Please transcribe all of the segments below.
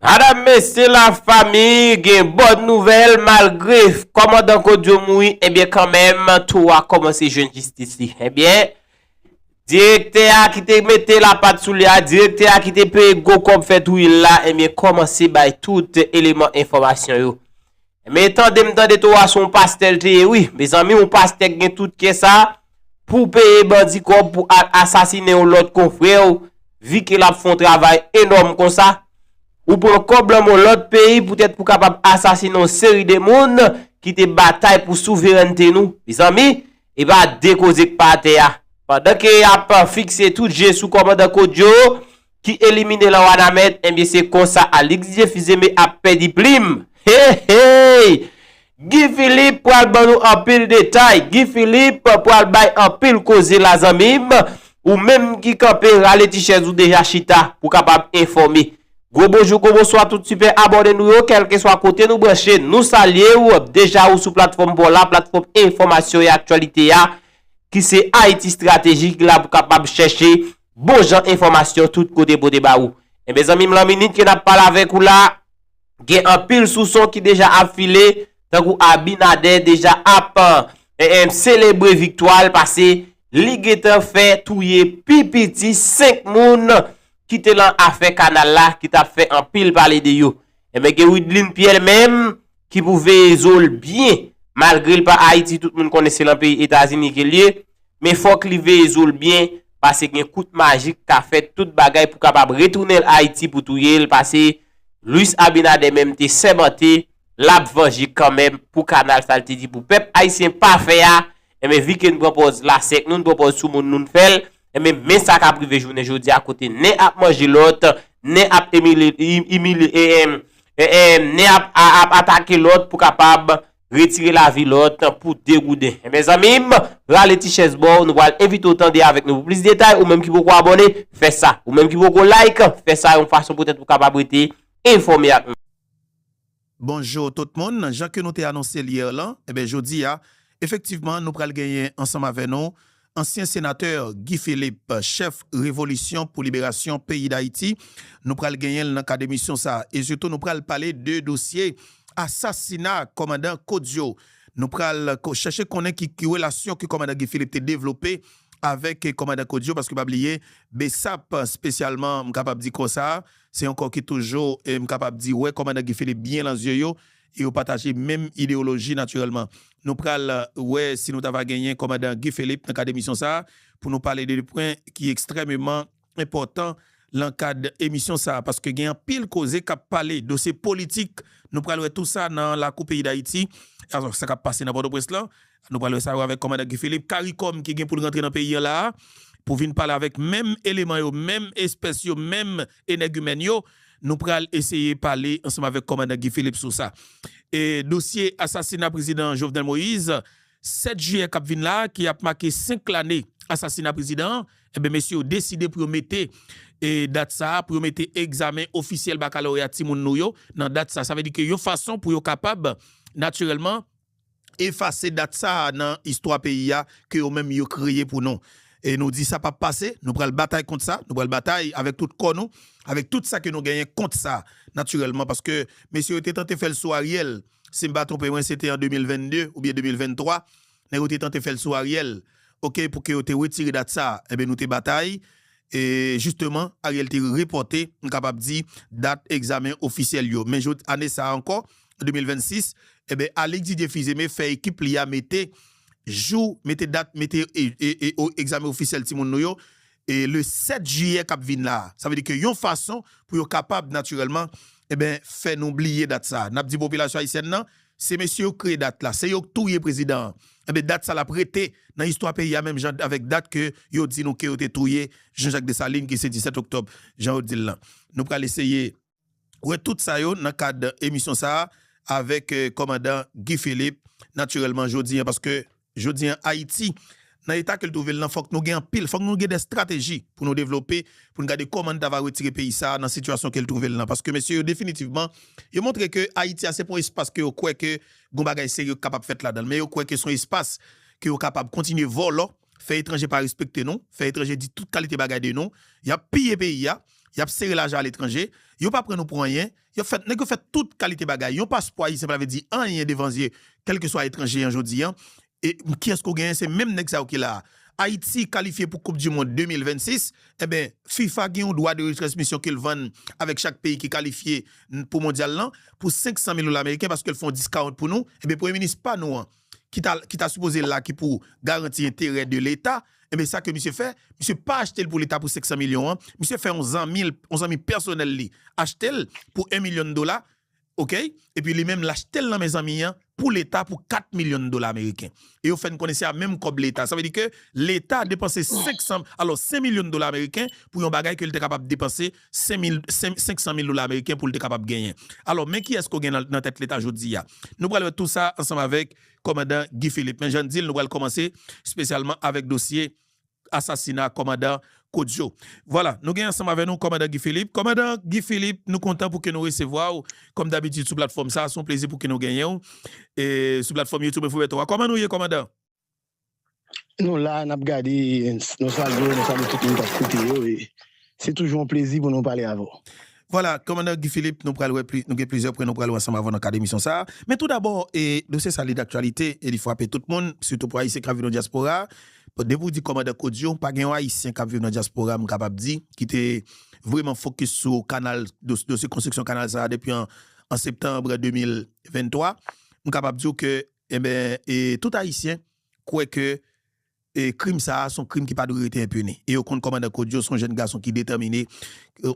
Madam mesye la fami gen bòn nouvèl malgre kòmandan Kodio mouri ebyen kanmenm tou a kòmanse jwenn jistis li ebyen direktè a ki te mete la pat sou li a direktè a ki te peye gwo kòb fè touyel la ebyen kòmanse bay tout eleman enfòmasyon yo Men tandem tande to a son pastè l te ye wi mezanmi yon pastè k gen tout kè sa pou peye bandi kòb pou al asasinen yon lòt konfrè w vi ke lap fon travay enòm konsa ou pran kòb lan mon lòt peyi poutèt pou kapab asasinen yon seri de moun ki te batay pou souverènte nou mezanmi e pa de koze k pa atè a pandan ke yap fikse tout je sou kòmandan Kodio. ki elimine lan wanament enbyen se konsa Alix Dieufils Aimé ap pèdi plim heheyy Guy Philippe pral ban nou anpil detay Guy Philippe pral bay anpil koze la zanmim ou menm ki kanpe rale ti chèz ou deja chita pou kapab enfòme gwo bonjou gwo bonswa tout super abòne nou yo kèlkeswa kote nou branche nou salyew deja ou sou platfòm paw la platfòm enfòmasyon e aktyalite a ki se Haïti Stratégie ki la pou kapab chèche. bon jan enfòmasyon tout kote pote ba ou. Enben zanmi m lan minit ke n ap pale avèk ou la, gen anpil souson ki deja ap file, tankou Abinader deja ap selebre viktwa l pase li gentan fè touye pi piti 5 moun ki te lan afè kanal la ki t ap fè anpil pale de yo. Enben gen Wideline Pierre li menm ki pou veye zo l byen malgre l pa Ayiti tout moun konnen se lan peyi Etazini ke l ye men fòk li veye zo l byen pase gen kout maji k ka fèt tout bagay pou kapab retounen l Ayiti pou touye l pase Luis Abinader menm te sèmante l ap vanje kanmenm pou kanal sa l te di pou pèp Ayisyen pa fè a enben vi ke n pran pòz lasèk nou n pran pòz sou moun nou n fè l Enben, men sa k ap rive jounen jodi a kote nen ap manje lòt, nen ap imilye, nen ap atake lòt pou kapab retire lavi lòt pou degouden. Mezanmi, rale ti chèz ba w, nou pral envite w tande avèk nou pou plis detay. Ou menm ki poko abòne, fè sa. Ou menm ki poko like, fè sa yon fason poutèt ou kapab rete enfòme ak nou. Bonjour tout moun, jan ke nou te anonse l hier lan, enben jodi a efektivman nou pral genyen ansanm avè nou ansyen senatè Guy Philippe chèf revolisyon pou liberasyon peyi Dayiti, nou pral genyen l nan kad emisyon sa e sitou nou pral pale de dosye asasina kòmandan Kodio, nou pral chèche konnen ki relasyon ke kòmandan Guy Philippe te devlope avèk kòmandan Kodio paske pa bliye Bsap spesyalman m kapab di konsa Se yon kò ki toujou, m kapab di, wè Kòmandan Guy Philippe byen lan zye yo e yo pataje menm ideyoloji natirèlman. Nou pral wè si nou ta va genyen Kòmandan Guy Philippe nan kad emisyon sa a pou nou pale de 2 pwen ki ekstrèmeman enpòtan lan kad emisyon sa a paske gen anpil koze k ap pale dosye politik. Nou pral wè tou sa nan lakou peyi Dayiti, sa k ap pase nan Pòtoprens lan. Nou pral wè sa yo avèk Kòmandan Guy Philippe. Caricom ki gen pou l rantre nan peyi an la a pou vin pale avèk menm eleman yo, menm espès yo, menm enègimèn yo. Nou pral eseye pale ansanm avèk Kòmandan Guy Philippe sou sa. E dosye asasina Prezidan Jovenel Moïse 7 jiyè k ap vin la a ki ap make 5 lane asasina prezidan an, enben mesye yo deside pou yo mete dat sa a, pou yo mete egzamen ofisyèl bakaloreya timoun nou yo nan dat sa a. Sa vle di ke yon fason pou yo kapab natirèlman. efase dat sa a nan istwa peyi a ke yo menm yo kreye pou nou. E nou di sa pap pase, nou pral batay kont sa, nou pral batay avèk tout kò nou, avèk tout sa ke nou genyen kont sa natirèlman paske mesye yo te tante fè l sou Ariel, si m pa twonpe mwen se te an 2022 oubyen 2023 nèg yo te tante fè l sou Ariel ok pou ke yo te wetire dat sa a enben nou te batay e jisteman Ariel te repòte m kapab di dat egzamen ofisyèl yo men jodi ane sa a ankò 2026 enben Alix Didier Fils-Aimé fè ekip li a mete jou mete dat mete egzamen ofisyèl timoun nou yo le 7 jiyè kap vin la a sa vle di ke yon fason pou yo kapab natirèlman enben fè nou bliye dat sa a nap di popilasyon ayisyèn nan se mesye yo k kreye dat la se yo k touye prezidan an enben dat sa lap rete nan istwa peyi a menm jan avèk dat ke yo di nou ke yo te touye Jean Jacques Dessalines ki se 17 oktòb jan yo di l lan nou pral eseye. wè tout sa yo nan kad emisyon sa a avèk kòmandan Guy Philippe natirèlman jodi an paske jodi an Ayiti nan eta ke l twouve l lan fòk nou gen anpil fòk nou gen dè estrateji pou nou devlope pou nou gade kòman nou ta va retire peyi sa a nan sitiyasyon ke l twouve l lan paske mesye yo definitivman yo montre ke Ayiti a se pa yon espas ke yo kwè ke gon bagay serye k kapab fèt ladan l men yo kwè ke s on espas ke yo kapab kontinye vòlò. fè etranje pa respekte nou, fè etranje di tout kalite bagay de nou, y ap piye peyi a, y ap sere lajan aletranje, yo pa pran nou pou anyen, y ap fè, nèg yo fè tout kalite bagay. Yon paspò ayisyen pa vle di anyen devan zye kèlkeswa etranje an jodi an. E kiyès ke w genyen? Se menm nèg sa yo ki la a. Ayiti kalifye pou koup di mond 2026, enben fifa gen yon dwa de retransmisyon ke l vann avèk chak peyi ki kalifye pou mondyal lan pou 500 mil dola meriken paske l fè yon diskawont pou nou, enben premye minis pa nou an, ki ta ki ta sipoze la ki pou garanti enterè de leta enben sa ke misye fè misye pa achte l pou leta pou 500 milyon an misye fè yon zanmi l yon zanmi pèsonèl li achte l pou 1 milyon dola ok epi li menm l achte l nan men zanmi an pou leta pou 4 milyon dola ameriken e yo fè n konnen se a menm kòb leta sa vle di ke leta depanse 500 alò 5 milyon dola ameriken pou yon bagay ke li te kapab depanse 500 mil dola ameriken pou l te kapab genyen. Alò, men kiyès ke w gen nan tèt leta jodi a? Nou pral wè tou sa ansanm avèk kòmandan Guy Philippe. Men jan n di l, nou pral kòmanse espesyalman avèk dosye asasina kòmandan Kodio. Vwala, nou gen ansanm avèk nou kòmandan Guy Philippe. Kòmandan Guy Philippe, nou kontan pou ke nou resevwa w kòm dabitid sou platfòm sa a. Se yon plezi pou ke nou genyen w sou platfòm Youtube Info Beton an. Kòman nou ye kòmandan? Nou la nap gade nou salye w nou salye tout moun kap koute yo e se toujou yon plezi pou nou pale avè w. Vwala, Kòmandan Guy Philippe, nou pral wè pli, nou gen plizyè pwen nou pral wè ansanm avè w nan kad emisyon sa a. Men tou dabò, e dosye sa li daktyalite e li fwape tout moun, sitou pou Ayisyen kap viv nan dyaspora a. Depi w di Kòmandan Kodio, pa gen yon Ayisyen kap viv nan dyaspora a m kapab di ki te vreman fokis sou kanal, dosye konstriksyon kanal sa a depi an septanb 2023. M kapab di w ke Enben, e tout Ayisyen kwè ke e krim sa a s on krim ki pa dwe rete enpini. E yo konn kòmandan Kodio s on jèn gason ki detèmine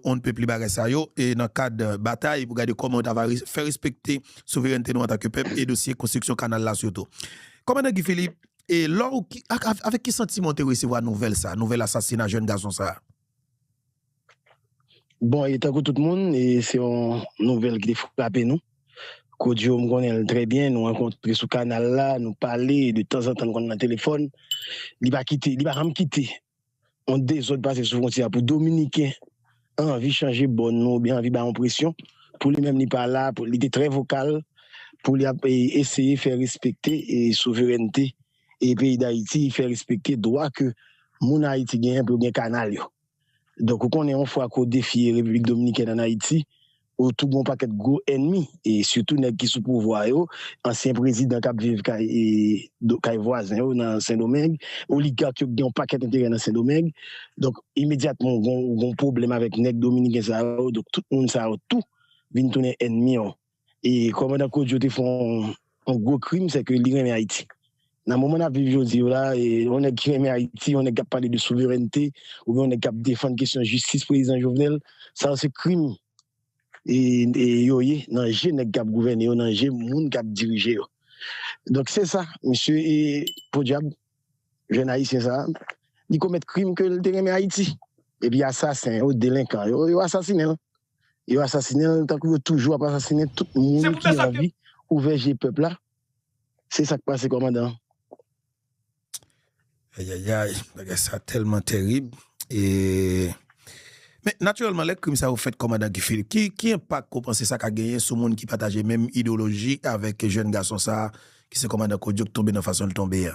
on ne peut plus bagay sa yo e nan kad batay pou gade kòman yo ta va fè respekte souverènte nou antanke pèp e dosye konstriksyon kanal la sitou. Kòmandan Guy Philippe, e lò ou, ak avèk ki santiman ou te resevwa nouvèl sa a, nouvèl asasina jèn gason sa a? Bon e tankou tout moun e se yon nouvèl ki te frape nou. Kodjo m konnen l trè byen, nou rankontre sou kanal la, nou pale, de tanzantan n konn nan telefòn. Li pa kite, li pa janm kite yon dezòd pase sou fwontyè a pou dominiken anvi chanje bò nou oubyen anvi bay yon presyon pou li menm li pa la, li te trè vokal pou li ap eseye fè respekte souverènte peyi Dayiti, fè respekte dwa ke moun Ayiti genyen pou yo gen kanal yo. Donk ou konnen yon fwa ke w defye Repiblik Dominikèn an Ayiti, ou tou gen yon pakèt gwo ènmi e sitou nèg ki sou pouvwa yo, ansyen prezidan kap viv kay kay vwazen yo nan Sendomeng, oligak yo ki gen yon pakèt enterè nan Sendomeng. Donk imedyatman ou gen yon pwoblèm avèk nèg dominiken sa yo, donk tout moun sa yo tou vin tounen ènmi w. E kòmandan Kodjo te fè yon gwo krim, sè ke li renmen Ayiti. Nan moman n'ap viv jodi yo la, yon nèg ki renmen Ayiti, yon nèg k'ap pale de souverènte, ou byen yon nèg k'ap defann kesyon jistis prezidan Jovenel, sa yo se krim yo ye nan je nèg k'ap gouvène yo, nan je moun k'ap dirije yo. Donk se sa, misye e podyab. Jèn ayisyen sa a, li komèt krim ke li te renmen Ayiti. Epi asasen yo, delenkan yo, yo asasinen l. Yo asasinen l tankou yo toujou ap asasinen tout moun ki anvi ouvè je pèp la. Se sa k pase kòmandan. Ayayay, bagay sa tèlman tèrib. E, men, natirèlman, lè krim sa yo fèt kòmandan Guy Philippe, ki, ki enpak ou panse sa ka genyen sou moun ki pataje menm idewoloji avèk jèn gason sa a? ki se kòmandan Kojo ki tonbe nan fason l tonbe a.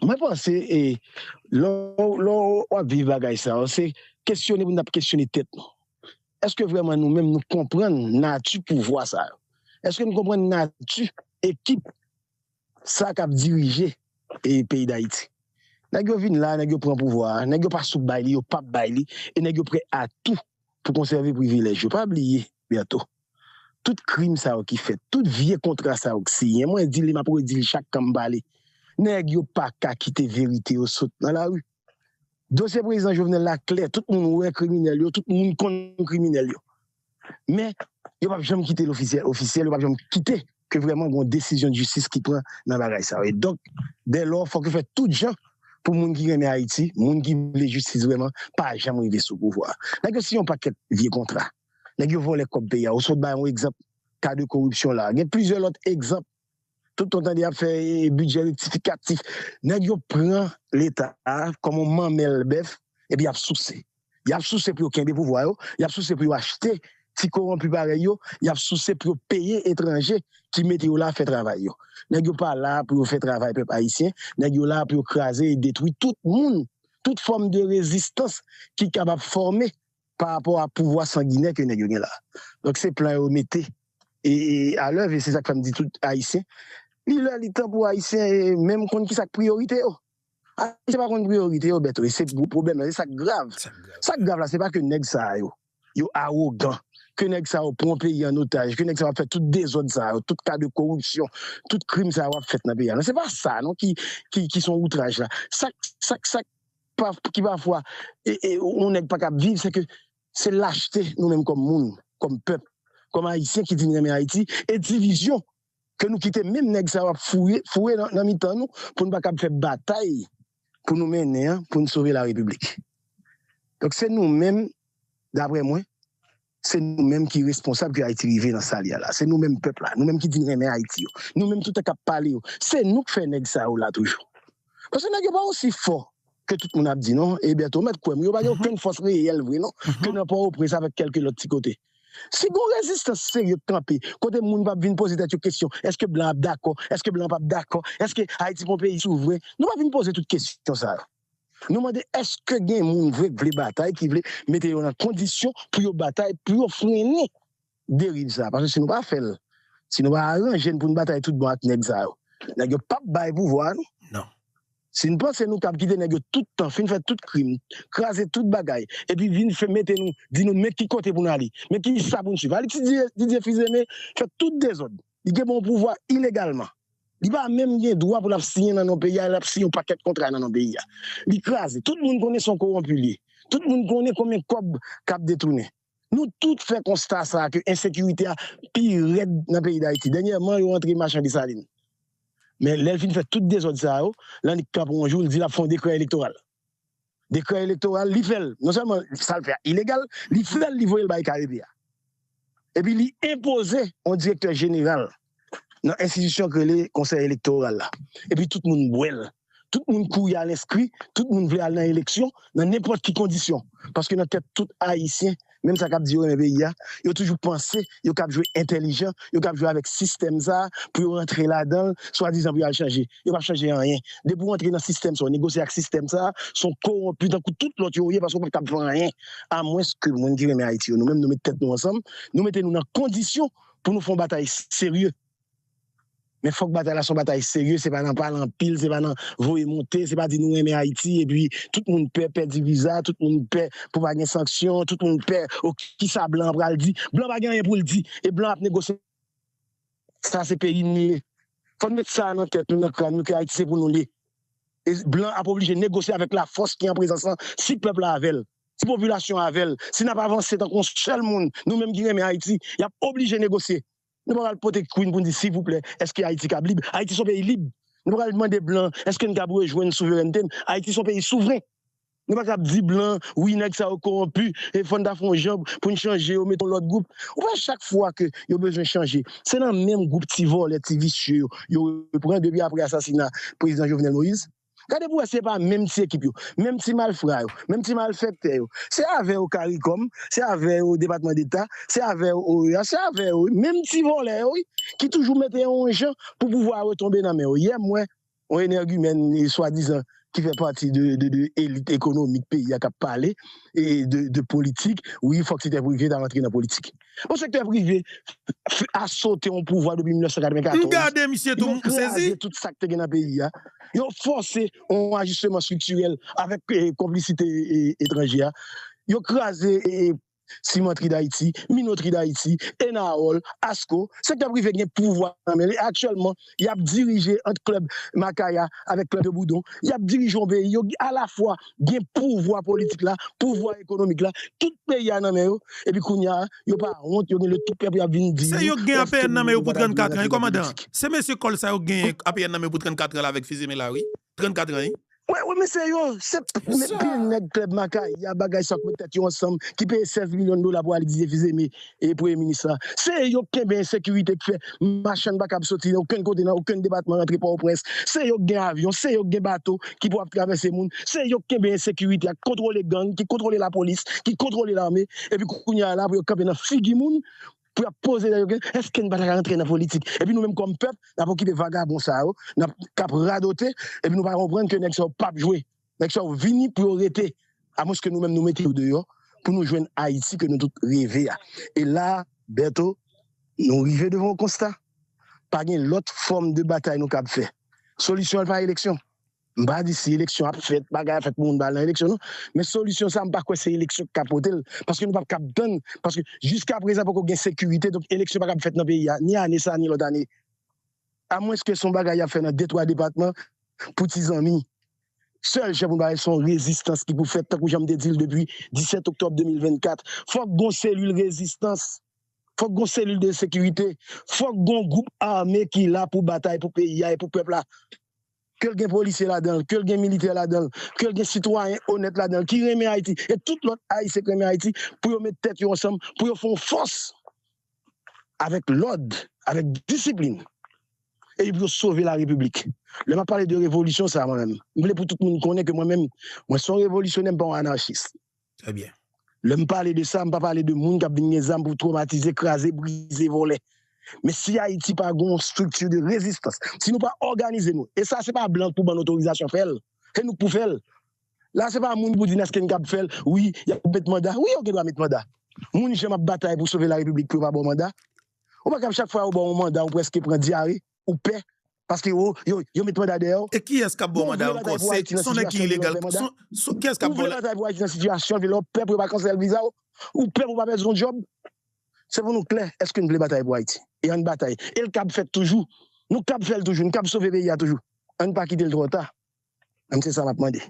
Mwen panse e lè w ap viv bagay sa yo se kesyone pou n ap kesyone tèt nou. Eske vrèman nou menm nou konprann nati pouvwa sa yo? Eske nou konprann nati ekip sa k ap dirije peyi Dayiti? Nèg yo vin la, nèg yo pran pouvwa a, nèg yo pa sou bay li, yo p ap bay li e nèg yo prè a tou pou konsève privilèj yo. Pa bliye Bertho. Tout krim sa yo ki fèt, tout vye kontra sa yo k siyen, mwen di l e m ap redi l chak kan m pale, nèg yo pa ka kite verite yo sot nan lari. Dosye Prezidan Jovenel la klè, tout moun wè kriminèl yo, tout moun konn kriminèl yo. Men, yo p ap janm kite l ofisyèl, ofisyèl, yo p ap janm kite ke vrèman gon desizyon jistis ki pran nan bagay sa yo. E donk, dèlò, fòk yo fè tout jan pou moun ki renmen Ayiti, moun ki vle jistis vrèman, pa janm rive sou pouvwa a. Nèg yo siyen yon pakèt vye kontra. Nèg yo vòlè kòb peyi a. Ou sot bay yon egzanp ka de koripsyon la. Gen plizyè lòt egzanp. Tout tan w tande y ap fè bidjè rektifikatif. Nèg yo pran Leta a kòm yon manmèl bèf epi y ap souse. Y ap souse pou yo kenbe pouvwa yo. Y ap souse pou yo achte ti kowonpi parèy yo. Y ap souse pou yo peye etranje ki mete yo la fè travay yo. Nèg yo pa la pou yo fè travay pèp ayisyen. Nèg yo la pou yo kraze e detwi tout moun, tout fòm de rezistans ki kapab fòme. pa rapò a pouvwa sanginè ke nèg yo gen la. Donk se plan yo mete a lèv e se sa k fè m di tout Ayisyen, li lè li tan pou Ayisyen menm konn ki sa k priyorite yo. Ayisyen pa konn priyorite yo Bèto e se gwo pwoblèm nan, se sa k grav. Sa k grav la se pa ke nèg sa yo, yo awogan, ke nèg sa yo pran peyi an otaj, ke nèg sa yo ap fè tout dezòd sa yo, tout ka de koripsyon, tout krim sa yo ap fèt nan peyi a. Non se pa sa non ki son outraj la. Sa k, sa k, sa k. ki pafwa yon nèg pa kab viv, se ke se lachte nou menm kòm moun, kòm pèp, kòm Ayisyen ki di nou renmen Ayiti, e divizyon ke nou kite menm nèg sa yo ap foure nan mitan nou pou nou pa kab fè batay pou nou mennen an pou nou sove larepiblik. Donk se nou menm, daprè mwen, Se nou menm ki responsab ke Ayiti rive nan sa li a la. Se nou menm pèp la. Nou menm ki di n renmen Ayiti yo. Nou menm tout an k ap pale yo. Se nou k fè nèg sa yo la toujou. Paske nèg yo pa osi fò ke tout moun ap di non. E Bertho, ou mèt kwè m, yo pa gen okenn fòs reyèl vre non ke nan Pòtoprens avèk kèlke lòt ti kote. Si gon rezistans serye k kanpe, kote moun pa p vin poze tèt yo kesyon, èske blan ap dakò, èske blan an pa p dakò, èske Ayiti pa yon peyi souvren, nou pa vin poze tout kesyon sa yo. Nou mande eske gen moun vre k vle batay ki vle mete yo nan kondisyon pou yo batay pou yo frennen deriv sa paske si nou pa fèl si nou pa aranjen pou nou batay tout bon ak nèg sa yo nèg yo pap bay pouvwa a nou si nou panse nou kab kite nèg yo tout tan fin fè tout krim kraze tout bagay epi vin fè mete nou di nou men ki kote pou nou ale men ki sa pou nou swiv al etidye Didier Fils-Aimé fè tout dezòd Li gen bon pouvwa ilegalman. Li pa menm gen dwa pou lap siyen nan non peyi a, lap siyen yon pakèt kontra nan non peyi a. Li kraze. Tout moun konnen se yon kowonpi li ye. Tout moun konnen konbyen kòb kap detounen. Nou tout fè konsta sa ke ensekirite a pi rèd nan peyi Dayiti. Dènyèman yo antre machan Desalin. Men lèl fin fè tout dezòd sa yo, l annik pran pou yon jou, l di lap fè yon dekrè elektoral. dekrè elektoral li fèl non sèlman sal fè a ilegal li fèl li voyel bay kare pia epi li enpoze yon direktè jeneral nan enstitisyon ki rele konsèy elektoral la epi tout moun bwèl tout moun kouri al enskri tout moun vle al nan eleksyon nan nenpòt ki kondisyon paske nan tèt tout ayisyen menm sa kap di yo renmen peyi a, yo toujou panse yo kap jwe entèlijan, yo kap jwe avèk sistèm sa pou yo rantre ladanl swadizan pou yo al chanje. Yo pap chanje anyen. Depi w antre nan sistèm sa, w negosye ak sistèm sa, se yon kowonpi tankou tout lòt yo ou ye paske w pap kab fè anyen. A mwens ke moun ki renmen Ayiti yo nou menm nou met tèt nou ansanm, nou mete nou nan kondisyon pou nou fè yon batay serye. Men fòk batay la se yon batay serye, se pa nan pale anpil, se pa nan voye monte, se pa di nou renmen Ayiti epi tout moun pè pèdi viza, tout moun pè pou pa gen sanksyon, tout moun pè o kisa blan an pral di. Blan pa gen anyen pou l di e blan ap negosye. Sa se peyi nou ye. Fòk nou met sa nan tèt nou, nan kràn nou ke Ayiti se pou nou l ye. E blan ap oblije negosye avèk lafòs ki an prezans lan si pèp la avè l, si popilasyon an avè l, si n ap avanse tankou yon sèl moun, nou menm ki renmen Ayiti, y ap oblije negosye. Nou pa pral pote Queen pou n di sivouplè èske Ayiti kab lib? Ayiti son peyi lib. Nou pa pral mande blan èske n kab rejwenn souverènte n? Ayiti son peyi souvren. Nou pa kab di blan wi nèg sa yo kowonpi e fò n ta fè yon jan pou n chanje yo mete yon lòt gwoup. Ou pa wè chak fwa ke yo bezwen chanje se nan menm gwoup ti vòlè ti visye yo yo repran depi apre asasina prezidan Jovenel Moïse? Gade pou wè si se pa menm ti ekip yo, menm ti malfra yo, menm ti malfèktè yo. Se avè yo caricom, se avè yo depatman deta, se avè yo OEA, se avè yo wi, menm ti vòlè yo wi ki toujou mete yo yon jan pou pouvwa a retonbe nan men yo. Yè m wè yon enègimèn swadizan ki fè pati de elit ekonomik peyi a k ap pale de politik, wi fòk sektè prive ta rantre nan politik. Bon sektè prive a sote yon pouvwa depi 1994. Yo fòse yon ajisteman estriktirèl avèk konplisite etranje a. Yo kraze Simantri Dayiti, Minotri Dayiti, Enaol, Asko. Sektè prive gen pouvwa nan men li. Aktyèlman, y ap dirije ant klèb Makaya avèk klèb de Boudon, y ap dirije yon peyi, yo alafwa gen pouvwa politik la, pouvwa ekonomik la, tout peyi a nan men yo, epi kounye a, yo pa wont, yo gen le tout pè pou y ap vin di nou, Se yo k gen APN nan men yo pou 34 an wi kòmandan, se mesye kòl sa yo k gen APN nan men yo pou 34 an la avèk fizi men la wi. 34 ans wi. Wè wè men se yo, se pil nèg klèb makay ya bagay sa yo k met tèt yo ansanm ki peye 16 milyon dola pou al dize fize me premye minis la. Se yo k kenbe ensekirite k fè machann pa kab soti nan okenn kote nan okenn depatman rantre pòtoprens. Se yo k gen avyon, se yo k gen bato ki pou ap travèse moun. Se yo k kenbe ensekirite a, k kontwole gang, ki kontwole lapolis, ki kontwole lame epi kounye a la pou yo kanpe nan figi moun pou yap poze nan yo gen eske nou pata ka rantre nan politik epi nou menm kòm pèp nap okipe vagabon sa yo nap kap radote epi nou pa konprann ke nèg sa yo pap jwe nèg sa yo vini pou yo rete amwenske nou menm nou mete yo deyò pou nou jwenn ayiti ke nou tout reve a e la Bertho nou rive devan yon konsta pa gen lòt fòm de batay nou kab fè solisyon an pa eleksyon. M pa di si eleksyon ap fèt, bagay ap fèt pou moun pa al nan eleksyon non, men solisyon sa m pa kwè se eleksyon ki ka pote l, paske nou pap kab tann, paske jiskaprezan poko gen sekirite, donk eleksyon pa kab fèt nan peyi a ni ane sa ni lòt ane, amwenske se yon bagay y ap fè nan de twa depatman pou ti zanmi. Sèl jan pou nou pale se yon rezistans ki pou fèt, tankou jan m te di l depi 17 oktòb 2024, fòk gon selil rezistans, fòk gon selil de sekirite, fòk gon gwoup ame ki la pou batay pou peyi a e pou pèp la. ke l gen polisye ladan l, ke l gen militè ladan l, ke l gen sitwayen onèt ladan l, ki renmen Ayiti, e tout lòt Ayisyen k renmen Ayiti, pou yo met tèt yo ansanm, pou yo fè yon fòs, avèk lòd, avèk disiplin, epi pou yo sove la Repiblik. Lè m ap pale de revolisyon sa a, mwen menm, m vle pou tout moun konnen ke mwen menm, mwen se yon revolisyonè, m pa yon anarchis. Trè byen. Lè m pale de sa, m pa pale de moun k ap vin gen zam pou twomatize, kraze, brize, vòlè. Men si Ayiti pa gen yon estrikti de rezistans, si nou pa òganize nou, e sa se pa blan k pou ban n otorizasyon fè l, se nou k pou fè l. La se pa moun pou di n èske n kab fè l, wi, y ap met manda, wi yo gen dwa met manda. Moun jan m ap batay pou sove larepiblik pou yo pa ba w manda. Ou pa kab chak fwa yo ba w yon manda ou prèske pran dyare. ou pè paske ou yo met manda dèyè w. E kiyès kap baw manda ankò se son nèg ki ilegal son kiyès kap baw la. Ou vle batay pou ayiti nan sitiyasyon vye lè ou pè pou yo pa kansèl viza w ou pè pou pa pèdi yon djòb se pou nou klè èske nou vle batay pou ayiti e ann batay e l kab fèt toujou nou kab fè l toujou nou kab sove peyi a toujou ann pa kite l twò ta Mwen se sa map mande.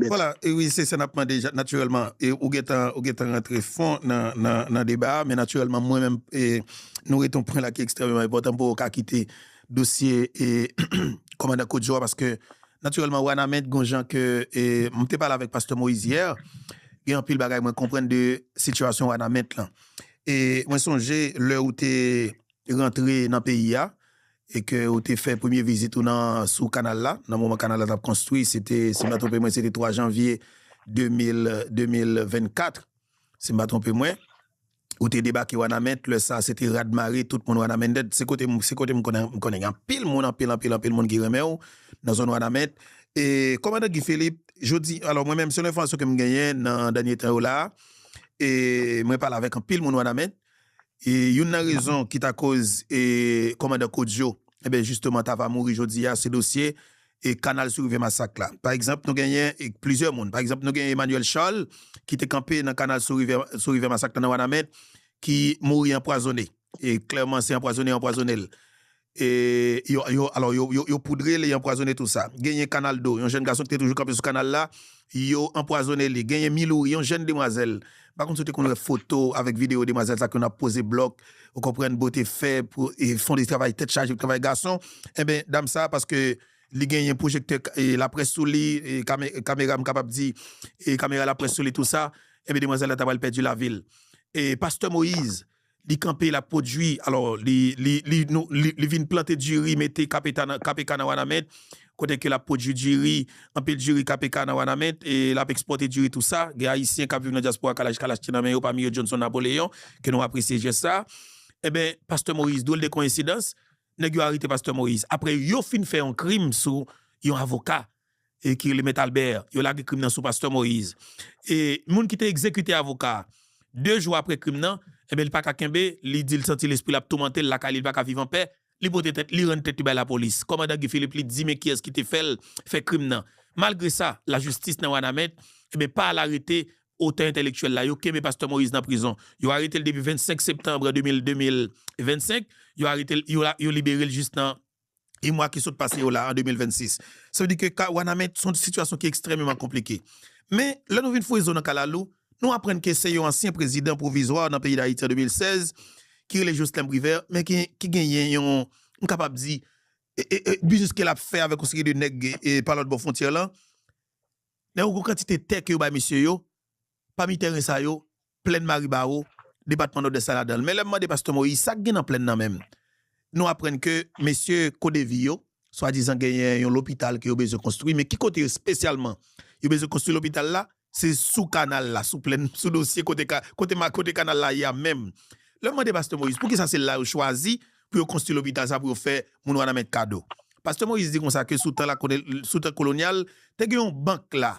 Voila, wi se sa nap mande natirèlman e ou gentan ou gentan rantre fon nan nan nan deba a men natirèlman mwen menm e nou rete yon pwen la ki ekstrèmeman enpòtan pou ou ka kite dosye e kòmandan Koudjo a paske natirèlman Wanament gon jan ke e m te pale avèk pastè Moïse yè gen anpil bagay mwen konprann de sitiyasyon Wanament lan e mwen sonje lè ou te rantre nan peyi a e ke ou te fè premye vizit ou nan sou kanal la nan moman kanal la t ap konstwi se te si m pa twonpe mwen se te 3 janvye 2024 si m pa twonpe mwen ou te debake Wanament lè sa se te rad mare tout moun Wanament se kote m se kote m konnen m konnen gen anpil moun anpil anpil anpil moun ki renmen w nan zòn Wanament e kòmandan Guy Philippe jodi alò mwen menm selon enfòmasyon ke m genyen nan dènye tan yo la a e mwen pale avèk anpil moun Wanament E youn nan rezon ki ta koz kòmandan Kodio enben jisteman ta va mouri jodi a se dosye kanal sou rivyè Masak la. Pa egzanp nou genyen plizyè moun, pa egzanp nou genyen Emmanuel Charles ki te kanpe nan kanal sou rivyè Masak la nan Wanament ki mouri anpwazone. E klèman se anpwazone yo anpwazone l. Yo poudre l e anpwazone tou sa. Genyen Kanaldo, yon jèn gason ki te toujou kanpe sou kanal la, yo anpwazone li. Genyen Milouri, yon jèn demwazèl. M pa konn si ou te konn wè foto avèk videyo demwazèl sa ki konn ap poze blòk, ou konprann, bote fè, fon de travay tèt chaje, travay gason. Enben, dam sa a, paske li genyen pwojektè laprès sou li, kamera, m kapab di, kamera laprès sou li tou sa, enben demwazèl la ta pral pèdi lavi l. Pastè Moyiz. Li kanpe lap pwodwi alò li vin plante diri mete kpk nan wanament kote ke lap pwodwi diri anpil diri kpk nan wanament e lap ekspòte diri tou sa gen ayisyen kap viv nan dyaspora kalaj kalach te nan men yo pami yo Johnson Napoléon ke nou apresye jès sa enben pastè Moïse dwòl de koyensidans nèg yo arete pastè Moïse aprè yo fin fè yon krim sou yon avoka e ki rele Mèt Albert, yo lage krim nan sou Pastè Moïse. E moun ki te egzekite avoka a, 2 jou apre krim nan, enben li pa ka kenbe, li di li santi lespri l ap toumante l lakay li, li pa ka viv anpè, li pote tèt, li rann tèt li bay lapolis. Kòmandan Guy Philippe li di men kiyès ki te fè l fè krim nan. Malgre sa, lajistis nan Wanament, enben pa al arete otè entèlektyèl la, yo kenbe Pastè Moïse nan prizon. Yo arete l depi 25 septanbre 2025, yo arete l, yo libere l jis nan. e mwa ki sot pase yo la an 2026. Sa vle di ke ka Wanament se yon sitiyasyon ki ekstrèmeman konplike. Men, lè nou vin fouye zo nan kalalou, nou aprann ke se yon ansyen prezidan pwovizwa nan peyi Dayiti an 2016, ki rele Joslèm Privè, men ki ki genyen yon, m kapab di, biznis ke l ap fè avèk yon seri de nèg pa lòt bò fwontyè lan. Nan yon gwo kantite tè ke yo bay mesye yo, Pami tèren sa yo, plèn Maribawo, depatman Nòdès la ladan l. Men lè m mande pastè Moyiz sa k gen nan plèn nan menm, nou aprann ke mesye CODEVI yo swadizan genyen yon lopital ke yo bezwen konstwi, men ki kote espesyalman yo bezwen konstwi lopital la? Se sou kanal la, sou plèn, sou dosye kote ka, kote ma, kote kanal la ye a menm. Lè m mande pastè Moyiz pou ki sa se la yo chwazi pou yo konstwi lopital sa pou yo fè moun Wanament kado, pastè Moyiz di konsa ke sou tan lakone, sou tan kolonyal, te gen yon bank la,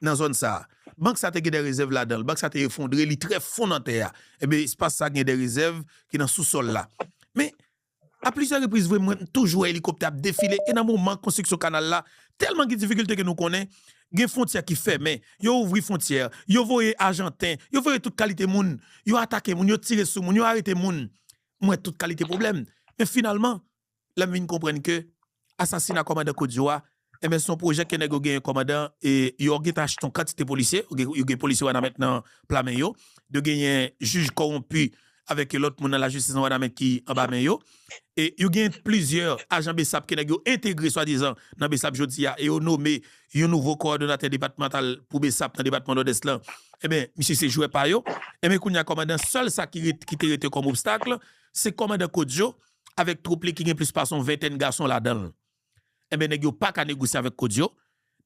nan zòn sa a. Bank sa te gen dè rezèv ladan l. Bank sa te efondre, li trè fon nan tè a. Enben, espas sa gen dè rezèv ki nan sousòl la. Men, a plizyè repriz vre mwen toujou wè elikoptè ap defile e nan moman konstriksyon kanal la, tèlman gen difikilte ke nou konnen, gen fwontyè ki fèmen, yo ouvri fwontyè, yo voye ajanten, yo voye tout kalite moun, yo atake moun, yo tire sou moun, yo arete moun. Mwen wè tout kalite pwoblèm. Men finalman, lèm vin konprann ke asasina kòmandan Kodio a enben son pwojè ke nèg yo genyen kòmandan e yo gentan achte yon kantite polisye yo gen polisye wanament nan pla men yo yo genyen jij kòwonpi avèk yon lòt moun nan lajistis nan wanament ki anba men yo e yo gen plizyè ajan besap ke nèg yo entegre swadizan nan besap jodi a e yo nome yon nouvo kowòdonatè depatmantal pou besap nan depatman nòdès lan enben misye se jwè pa yo enben kounye a kòmandan sèl sa ki te rete kòm obstakl se kòmandan Kodio. avèk twoup li ki gen plis pase yon ventèn gason ladan l. Enben nèg yo pa ka negosye avèk Kodio,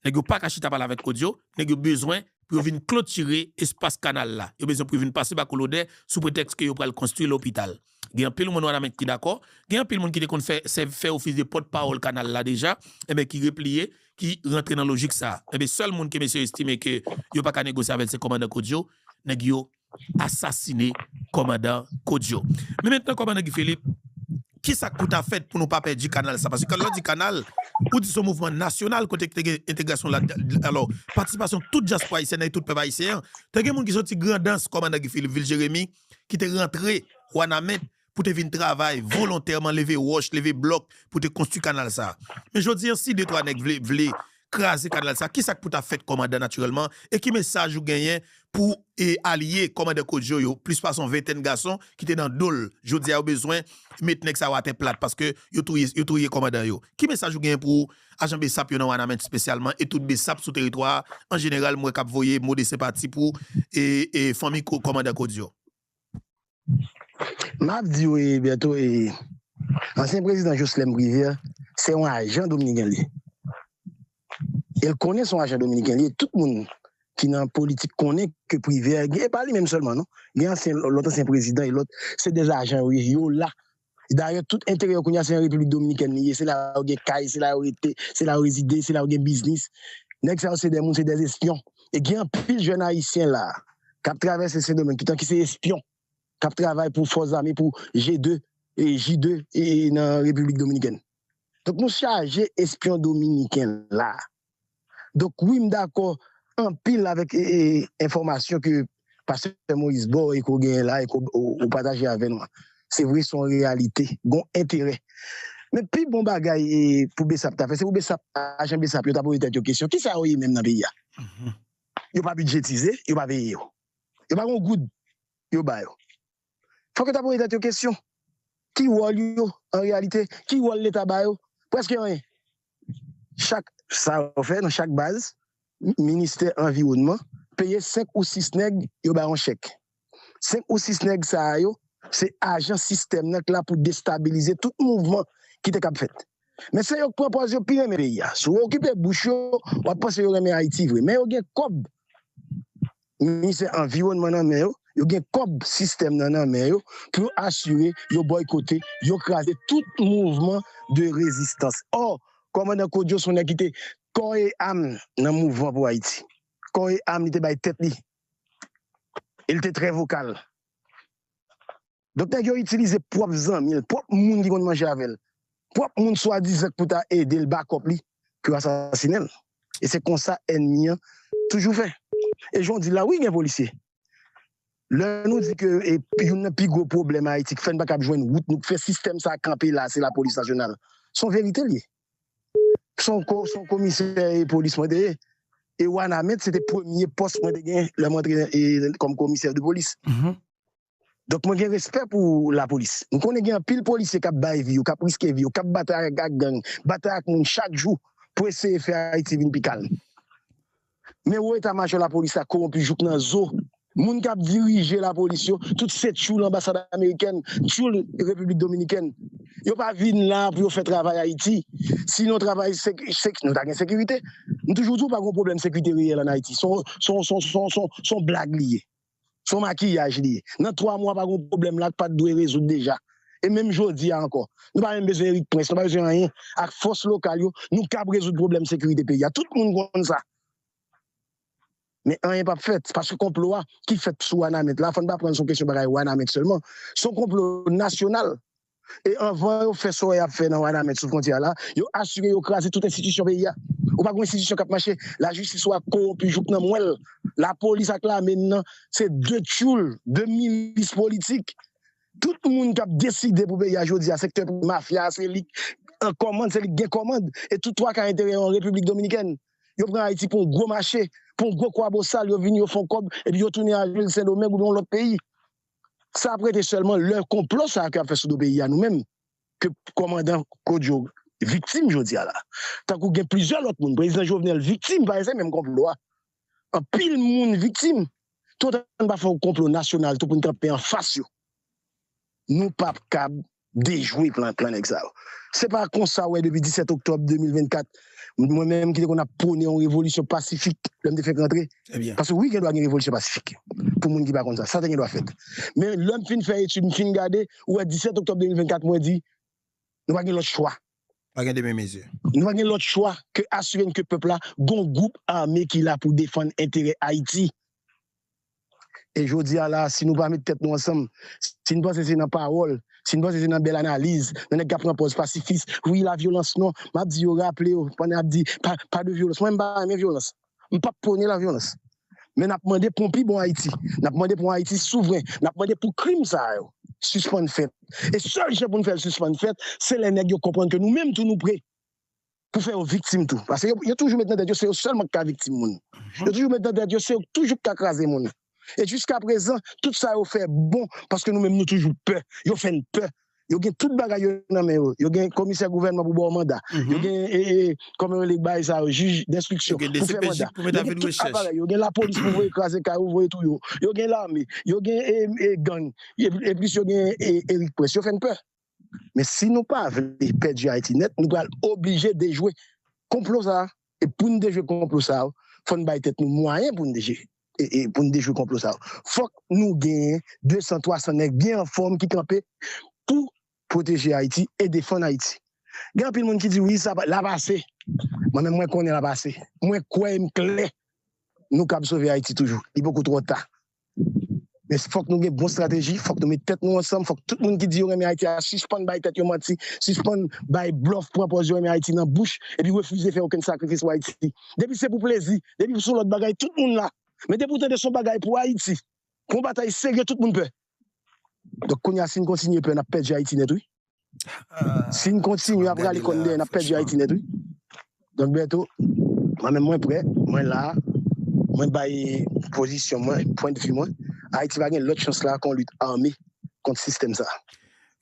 nèg yo pa ka chita pale avèk Kodio, nèg yo bezwen pou yo vin klotire espas kanal la, yo bezwen pou yo vin pase ba kou lodè sou pretèks ke yo pral konstwi lopital. Gen anpil moun Wanament ki dakò, gen anpil moun ki te konn fè sèvi fè ofis de pòt pawòl kanal la deja, enben ki repliye, ki rantre nan lojik sa a. Enben sèl moun ke mesye yo estime ke yo pa ka negosye avè l se kòmandan Kodio, nèg yo. asasine kòmandan Kodio. Men mentnan kòmandan Guy Philippe, ki sa k pou ta fèt pou nou pa pèdi kanal sa? Paske lè w di kanal, ou di se yon mouvman nasyonal kote ki te gen entegrasyon ladan, alò, patisipasyon tout dyaspora ayisyèn ak tout pèp ayisyen an. Te gen moun ki soti Grandans, kòmandan Guy Philippe, vil Jeremi, ki te rantre Wanament pou te vin travay volontèman leve wòch leve blòk pou te konstwi kanal sa men jodi an si de twa nèg vle vle kraze kanal sa kisak pou ta fèt kòmandan natirèlman e ki mesaj ou genyen pou e alye kòmandan Kodjo yo plis pase yon ventèn gason ki te nan dol jodi a yo bezwen met nèg sa yo atè plat paske yo touye yo touye kòmandan yo ki mesaj ou genyen pou ajan bsap yo nan wanament spesyalman e tout bsap sou teritwa an jeneral m wè kap voye mo de senpati pou e fanmi kòmandan Kodjo. Map diw e Bertho e ansyen prezidan Joslèm Privè se yon ajan dominiken li ye el konnen son ajan dominiken li ye tout moun ki nan politik konnen ke Privè e pa li menm sèlman non gen ansyen lòt ansyen prezidan e lòt se de ajan yo ye yo la Dayè tout enterè yo kounya se an Repiblik Dominikèn li ye, se la yo gen kay, se la yo rete, se la yo rezide, se la yo gen biznis. Nèg sa yo se dè moun, se dè espyon. E gen anpil jèn ayisyen la a k ap travèse Sendomeng toutan ki se espyon k ap travay pou fòs zame, pou G2, J2 nan Repiblik Dominikèn. Donk nou chaje espyon dominiken la. Donk wi m dakò anpil avèk enfòmasyon ke pastè Moïse ba w e ke w genyen la e ke w pataje avè nou an. Se vre se yon reyalite, gon enterè. Men pi bon bagay pou bsap ta fè se pou bsap, ajan bsap yo ta poze tèt yo kesyon, kisa yo ye menm nan peyi a? Yo pa bidjetize, yo pa peye yo. Yo pa gon goud yo ba yo. Fòk yo ta poze tèt yo kesyon, ki wòl yo an reyalite? Ki wòl leta ba yo? Prèske anyen. Chak sa yo fè nan chak baz, ministè anviwònman peye 5 ou 6 nèg yo ba yon chèk. 5 ou 6 nèg sa a yo se ajan sistèm nan k la pou destabilize tout mouvman ki te kab fèt. Men se yo k pran pòz yo pi renmen peyi a. Si w okipe bouch yo, w ap panse yo renmen Ayiti vre. Men yo gen kòb. Ministè anviwònman nan men yo, yo gen kòb sistèm nan nan men yo pou yo asire yo bòykote, yo kraze tout mouvman de rezistans. Ò, kòmandan Claude Josph son nèg ki te kò e am nan mouvman pou Ayiti. Kò e am li te bay tèt li e li te trè vokal. Donk nèg yo itilize pwòp zanmi l, pwòp moun ki konn manje avè l, pwòp moun swadizan k pou ta ede l, bakòp li, pou yo asasinen l. E se konsa ènmi an toujou fè. E jan w di l la, wi gen polisye. Lè nou di ke youn nan pi gwo pwoblèm Ayiti k fè n pa kab jwenn wout nou, k fè sistèm sa a kanpe la a, se lapolis nasyonal. Se yon verite l ye. Se yon komisè polis mwen te ye. E Wanament se te premye pòs mwen te gen lè m antre kòm komisè de polis. Donk mwen gen respè pou lapolis. M konnen gen anpil polisye k ap bay vi yo, k ap riske vi yo, k ap batay ak gang, batay ak moun chak jou pou eseye fè Ayiti vin pi kalm. Men wo eta majò lapolis la kowonpi jouk nan zo. Moun k ap dirije lapolis yo, tout se tchoul anbasad amerikèn, tchoul Repiblik Dominikèn. Yo pa vin la pou yo fè travay Ayiti. Sinon travay nou ta gen sekirite. M toujou di w pa gen yon pwoblèm sekirite reyèl ann Ayiti. Se yon blag li ye. son makiyaj li ye nan 3 mwa pa gon pwoblèm la pat dwe rezoud deja e menm jodi a ankò nou pa menm bezwen Erik prince nou pa bezwen anyen ak fòs lokal yo nou kab rezoud pwoblèm sekirite peyi a tout moun konn sa men anyen pap fèt paske konplo a ki fèt sou wanament la fòn pa pranl son kesyon bagay wanament sèlman son konplo nasyonal e anvan yo fè so y ap fè nan Wanament sou fwontyè a la, yo asire yo kraze tout enstitisyon peyi a. Ou pa gen yon enstitisyon k ap mache, lajistis ou a kowonpi jouk nan mwèl, lapolis ak lame n nan se de tchoul, de milis politik. Tout moun k ap deside pou peyi a jodi a, sektè prive, mafya a se li k an kòmand, se li k gen kòmand e tout twa ka enterè yo an Repiblik Dominikèn. Yo pran Ayiti pou yon gwo mache, pou yon gwo kwabosal, yo vini yo fè yon kòb epi yo tounen al jwe l Sendomeng oubyen yon lòt peyi. sa ap rete sèlman lè konplo sa ke yap fè sou do peyi a nou menm ke kòmandan Claude yo viktim jodi a la tankou gen plizyè lòt moun prezidan Jovenel viktim pa se menm konplo a anpil moun viktim tout an n pa fè yon konplo nasyonal tou pou n kanpe anfas yo nou pap kab dejwe plan plan nèg sa yo. Se pa konsa ou wè depi 17 oktòb 2024, mwen menm ki te konn ap pwone yon revolisyon pasifik lè m te fèk rantre, paske wi gen dwa gen revolisyon pasifik, pou moun ki pa konn sa, sa te gen dwa fèt. Men lè m fin fè etid, m fin gade, ou wè 17 oktòb 2024 mwen di, nou pa gen lòt chwa. Pa gen demi mezi. Nou pa gen lòt chwa ke asire n ke pèp la gon gwoup ame ki la pou defann enterè Ayiti. E jodi a la a, si nou pa met tèt nou ansanm, si n panse se nan pawòl, si n panse se nan bèl analiz, nan nèg k ap pran pòz pasifis, wi la vyolans non, m ap di yo raple yo pandan y ap di pa de vyolans, mwen m pa renmen vyolans, m p ap pwone la vyolans. Men n ap mande pou yon pi bon Ayiti, n ap mande pou yon Ayiti souvren, n ap mande pou krim sa a yo sispann fèt. E sèl jan pou n fè l sispann fèt, se lè nèg yo konprann ke nou menm tou nou pre. pou fè yo viktim tou. Paske yo toujou met nan tèt yo se yo sèlman ki ka viktim moun. Yo toujou met nan tèt yo se yo toujou ki ka kraze moun. E jiska prezan, tout sa yo fè bon paske nou menm nou toujou pè. Yo fè n pè. Yo gen tout bagay yo nan men yo. Yo gen komisè gouvènman pou ba w manda. Yo gen, kòman yo rele bagay sa yo, jij denstriksyon pou fè manda. Yo gen tout aparèy. Yo gen lapolis pou voye kraze kay ou, voye touye ou. Yo gen lame. Yo gen gang. Eplis yo gen Erik Prince. Yo fè n pè. Men si nou pa vle pèdi Ayiti nèt, nou pral oblije dejwe konplo sa a. E pou n dejwe konplo sa yo, fò n bay tèt nou mwayen pou n dejwe konplo sa yo. Fòk nou genyen 200, 300 nèg byen anfòm ki kanpe pou pwoteje Ayiti e defann Ayiti. Gen anpil moun ki di wi, l ap ase. Mwen menm mwen konnen l ap ase. Mwen kwè e m klè nou kab sove Ayiti toujou. Li poko twò ta. Men fòk nou gen bon strateji, fòk nou met tèt nou ansanm, fòk tout moun ki di yo renmen Ayiti a sispann bay tèt yo manti, sispann bay blòf, pran pòz yo renmen Ayiti nan bouch epi refize fè okenn sakrifis pou Ayiti. Depi se pou plezi, depi pou son lòt bagay, tout moun la. Men depi ou tande son bagay pou Ayiti, pou yon batay serye tout moun pè. Donk kounye a si n kontinye pè n ap pèdi Ayiti nèt wi. Si n kontinye ap rale kò n dèyè n ap pèdi Ayiti nèt wi. Donk Bertho, mwen menm mwen prè, mwen la, mwen bay pozisyon mwen, pwendvi mwen, Ayiti pa gen lòt chans la kon lit ame kont sistèm sa a.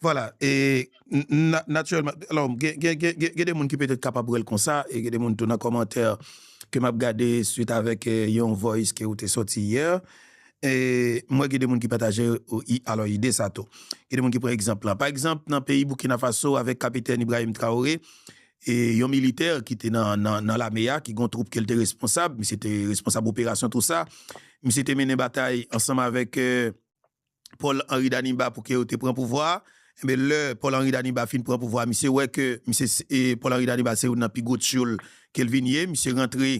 Vwala, e natirèlman, alò gen de moun ki petèt kapab wè l konsa e gen de moun tou nan kòmantè ke m ap gade swit avèk yon voice ke ou te sòti yè, M wè gen de moun ki pataje alò ide sa tou. Gen de moun ki pran egzanp lan. Pa egzanp, nan peyi Boukina Faso avèk Kapitèn Ibrahim Traoré, yon militè ki te nan lame a, ki gen yon twoup ke l te responsab, misye te responsab operasyon tou sa, misye te mennen batay ansanm avèk Paul Henri Daniba pou ke yo te pran pouvwa a. Enben lè Paul Henri Daniba fin pran pouvwa misye wè ke misye se Paul Henri Daniba se youn nan pi gwo tyoul ke l vin ye, misye rantre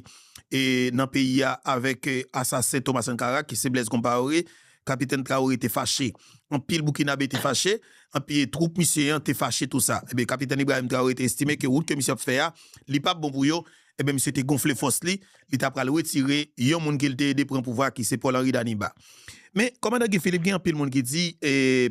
nan peyi a avèk asasen Thomas Sankara ki se Blaise Compaoré, Kapitèn Traoré te fache, anpil Boukinabe te fache, anpi twoup misye an te fache tou sa. Enben Kapitèn Ibrahim Traoré te estime ke wout ke misye ap fè a li pap bon pou yo, Enben misye te gonfle fòs li, li ta pral retire yon moun ke li te ede pran pouvwa ki se Paul Henri Daniba. Men Kòmandan Guy Philippe gen anpil moun ki di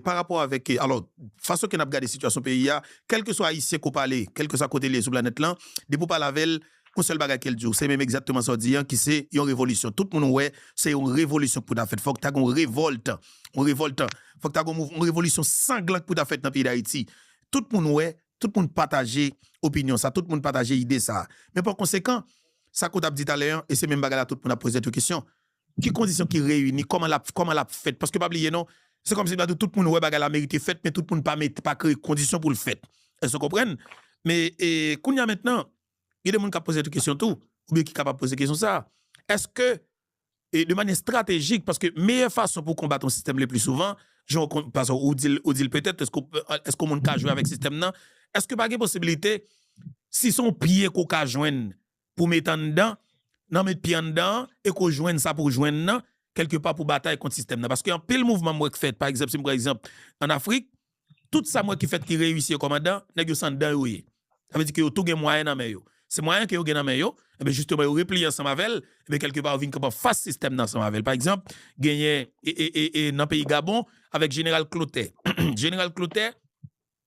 pa rapò avèk alò fason ke nap gade sitiyasyon peyi a, kèlkeswa Ayisyen ke w pale, kèlkeswa kote li ye sou planèt lan, depi w pale avè l, yon sèl bagay ke l di w, se menm egzatteman sa w di an ki se yon revolisyon. Tout moun wè se yon revolisyon ki pou ta fèt, fòk ta gen yon revòlt, yon revòlt, fòk ta gen yon mouvman, yon revolisyon sanglan ki pou ta fèt nan peyi Dayiti. Tout moun wè Tout moun pataje opinyon sa, tout moun pataje ide sa. Men pa konsekan, sa ke w t ap di talè an, e se menm bagay la tout moun ap poze tèt yo kesyon, ki kondisyon ki reyini, kòman l ap, kòman l ap fèt? Paske pa bliye non, se kòmsi m ta di w tout moun wè bagay la merite fèt, men tout moun pa mete, pa kreye kondisyon pou l fèt. Èske w konprann? Men, e, kounye a mentnan, gen de moun k ap poze tèt yo kesyon tou, oubyen ki kapab poze kesyon sa a, èske e de manyè estratejik paske meyè fason pou konbat yon sistèm lepli souvan jan paske ou dil ou dil petèt èske ou èske yon moun ka jwe avèk sistèm nan èske pa gen posibilite si son pye ke w ka jwenn pou met anndan nan met pye anndan an e ke w jwenn sa pou w jwenn nan kèlke pa pou batay kont sistèm nan paske anpil mouvman m wè k fèt pa egzanp si m pran egzanp an Afrik Tout sa m wè ki fèt ki reyisi yo kòmandan, nèg yo san dan yo ye. Sa vle di ke yo tou gen mwayen nan men yo. Se mwayen ke yo gen nan men yo, enben jisteman yo repliye ansanm avè l, enben kèlke pa yo vin kanpe an fas sistèm nan ansanm avè l. Pa egzanp, genyen e nan peyi Gabon avèk jeneral Klotè. Jeneral Klotè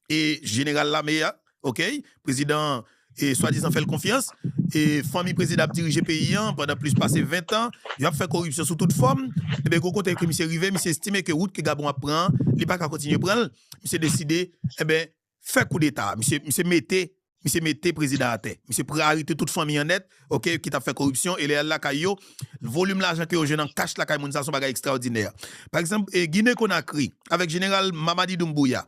e jeneral lame a, Ok prezidan an e swadizan fè l konfyans e fanmi prezidan ap dirije peyi an pandan plis pase 20 tan, yo ap fè koripsyon sou tout fòm, enben gwo kote ke misye rive, misye estime ke wout ke Gabon ap pran an, li pa ka kontinye pran l, misye deside enben fè koudeta, misye misye mete misye mete prezidan an atè, misye pran arete tout fanmi an nèt ok ki t ap fè koripsyon e lè y al lakay yo, volim lajan ke yo jwenn an kach lakay moun sa a se yon bagay ekstraòdinè. Pa egzanp e Gine Konakri avèk jeneral Mamadi Doumbouya,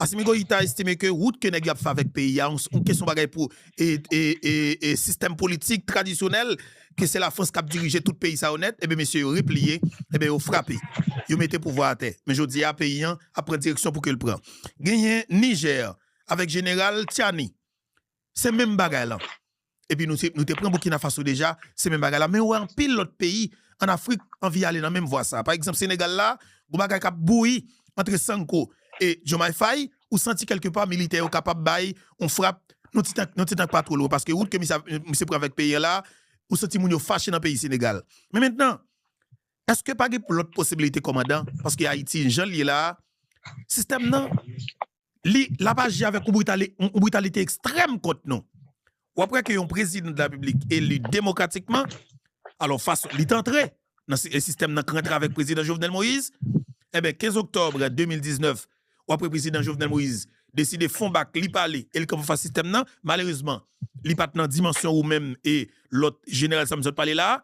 Asimi Goïta estime ke wout ke nèg yo ap fè avèk peyi a on kesyon bagay pou sistèm politik tradisyonèl ke se Lafrans kap dirije tout peyi sa yo nèt enben mesye yo repliye enben yo frape yo mete pouvwa atè men jodi a peyi an ap pran direksyon pou ke l pran genyen Niger avèk jeneral Tiani se menm bagay lan Epi nou te pran Burkina Faso deja, se menm bagay la. Men ou wè anpil lòt peyi an Afrik anvi ale nan menm vwa sa. Pa egzanp Senegal la, gon bagay k ap bouyi antre Sanko e Diomaye Faye, ou santi kèlke pa militè yo kapab bay yon frap yon ti tan, yon ti tan k pa two lwen. Paske wout ke misye pran avèk peyi an la, ou santi moun yo fache nan peyi Senegal. Men mentnan, èske pa gen lòt posibilite kòmandan? Paske Ayiti jan l ye la a, sistèm nan li lap aji avèk yon britalite ekstrèm kont nou. Wap wè ke yon prezidan de la repiblik eli demokratikman, alò fason li t antre nan sistèm nan k rantre avèk prezidan Jovenel Moïse, enben 15 oktòbre 2019 wap wè prezidan Jovenel Moïse deside fon bak li pale e li kanpe anfas sistèm nan, malerezman li pat nan dimansyon ou menm e lòt jeneral sa m sot pale la a,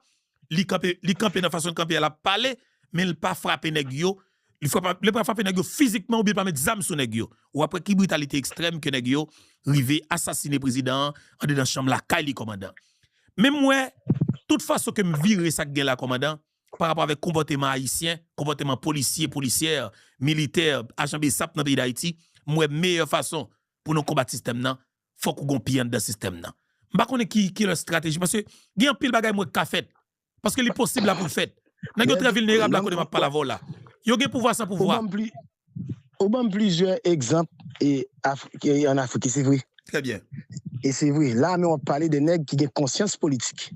li kanpe nan fason l kanpe a lap pale men l pa frape nèg yo Li frap ap, li pral frape nèg yo fizikman oubyen li pral met zam sou nèg yo. Ou ap wè ki britalite ekstrèm ke nèg yo rive asasine prezidan an andedan chanm lakay li kòmandan. Men m wè, tout fason ke m vire sa k gen la kòmandan, pa rapò avèk konpòteman ayisyen, konpòteman polisye, polisyè, militè, ajan bsap nan peyi dayiti, m wè meyè fason pou nou konbat sistèm nan, fòk ou gon pye anndan sistèm nan. M pa konnen ki lòt estrateji paske gen anpil bagay m wè k ka fèt Paske li posib la poul fèt. Nèg yo trè vilnerab la kote map pale avèw la. Yo gen pouvwa san pouvwa. Ou banm plizyè egzanp an Afrik e se vre. Trè byen. E se vre. La menm wap pale de nèg ki gen konsyans politik.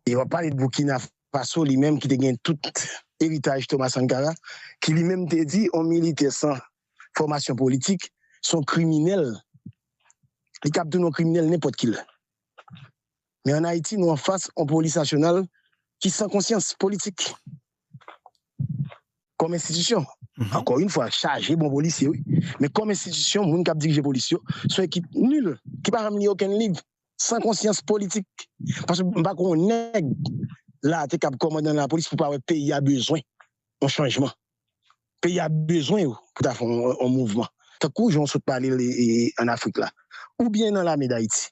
E wap pale de Boukina Faso li menm ki te gen tout eritaj Thomas Sankara ki li menm te di yon militè san fòmasyon politik son kriminèl. Li kab tounen yon kriminèl nenpòt kilè. Men an Ayiti nou an fas on polis nasyonal ki san konsyans politik kòm enstitisyon. Ankò yn fwa chaje bon polisye wi. Men kòm enstitisyon moun kap dirije polis yo son ekip nul ki pa janm li okenn liv, san konsyans politik. Paske m pa kwè on nèg la te kab kòmandan lapolis pou pa wè peyi a bezwen on chanjman. Peyi a bezwen yo pou ta fè on mouvman. Tankou jan w sot pale l an Afrik la. Oubyen nan lame dAyiti.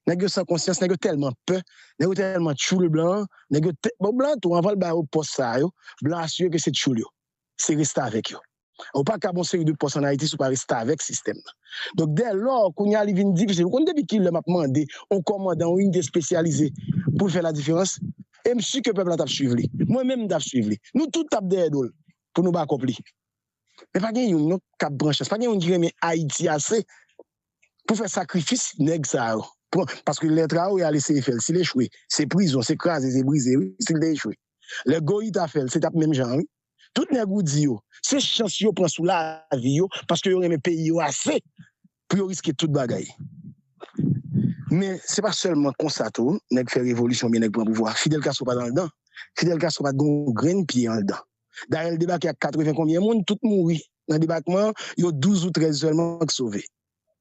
nèg yo san konsyans nèg yo tèlman pè nèg yo tèlman tchoul blan nèg yo tè bon blan tou anvan l ba yo pòs sa yo blan asire ke se tchoul yo se restavèk yo ou pa ka gon seri de pòs an ayiti si w pa restavèk sistèm nan donk dè lò kounye a li vin difisil ou konn depi ki lè m ap mande yon kòmandan yon inite espesyalize pou l fè la diferans e m si ke pèp la t ap swiv li mwen menm m t ap swiv li nou tout t ap dèyè do l pou nou bakòp li men pa gen youn non k ap pran chans pa gen youn ki renmen ayiti ase pou fè sakrifis nèg sa yo pran paske lè Traoré al eseye fè l si l echwe se prizon se kraze se brize wi si l te echwe lè Goïta fè l se t ap menm jan an wi tout nèg ou di yo se chans yo pran sou lavi yo paske yo renmen peyi yo ase pou yo riske tout bagay men se pa sèlman konsa tou nèg fè revolisyon oubyen nèg pran pouvwa Fidel Castro pa t anndan Fidel Castro pa t gen yon grenn pye anndan dayè l debake ak katreven konbyen moun tout mouri nan debakman an yo douz ou trèz sèlman k sove.